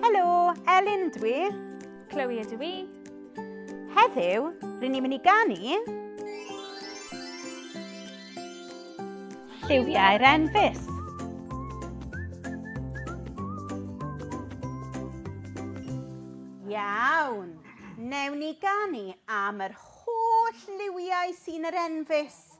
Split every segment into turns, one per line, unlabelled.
Helo, Elin ydw i. Chloe ydw i. Heddiw, rydyn ni'n mynd i ganu... Lliwiau'r enfys. Iawn, newn ni ganu am yr holl liwiau sy'n yr enfys.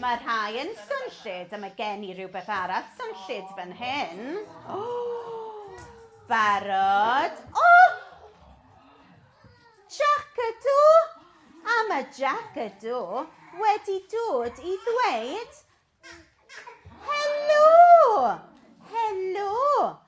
Mae rhai yn swnllyd a mae gen i rywbeth arall swnllyd fan hyn. Barod? O! Jac ydw! A mae Jac ydw wedi dod i ddweud Helo! Helo!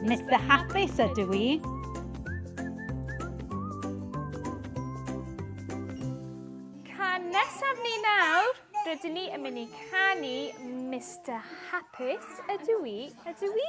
Mr Hapus ydw i. Can nesaf ni nawr, rydyn ni yn mynd i canu Mr Hapus ydw i, ydw i.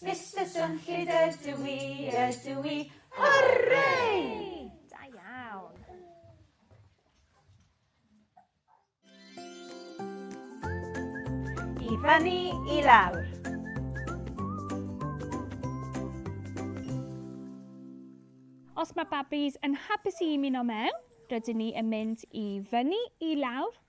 Mister Drunllyd ydw i, ydw i, hwrrei! i fyny i lawr. Os mae babis yn hapus i ymuno mewn, rydyn ni yn mynd i fyny i lawr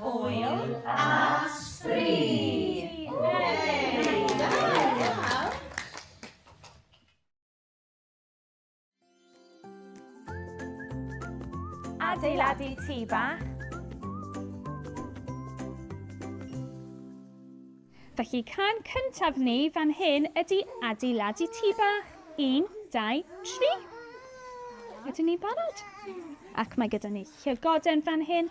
Hwyl a adeiladu tŷ bach. Felly can cyntaf ni fan hyn ydy adeiladu tŷ bach. Un, dau, tri. Ydyn ni'n barod? Ac mae gyda ni llygoden fan hyn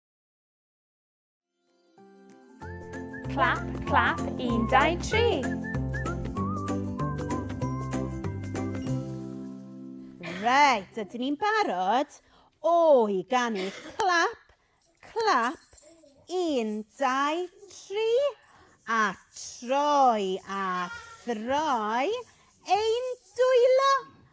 Clap, clap, un, dau, tri. Reit, ydyn ni'n barod o i ganu clap, clap, un, dau, tri, a troi a throi ein dwylo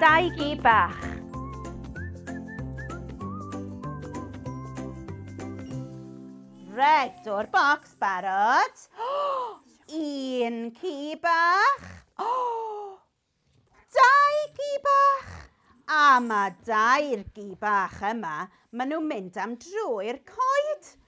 Dau gi bach. Reit, o'r bocs, barod. Oh, un ci bach. Oh, dau gi bach. A mae dau'r gi bach yma, maen nhw'n mynd am drwy'r coed.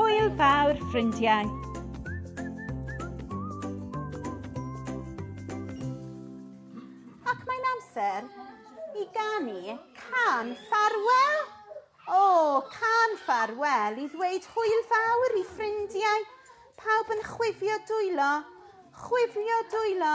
Hwyl fawr, ffrindiau! Ac mae'n amser i ganu can ffarwel. O, oh, can ffarwel i ddweud hwyl fawr i ffrindiau. Pawb yn chwifio dwylo, chwifio dwylo,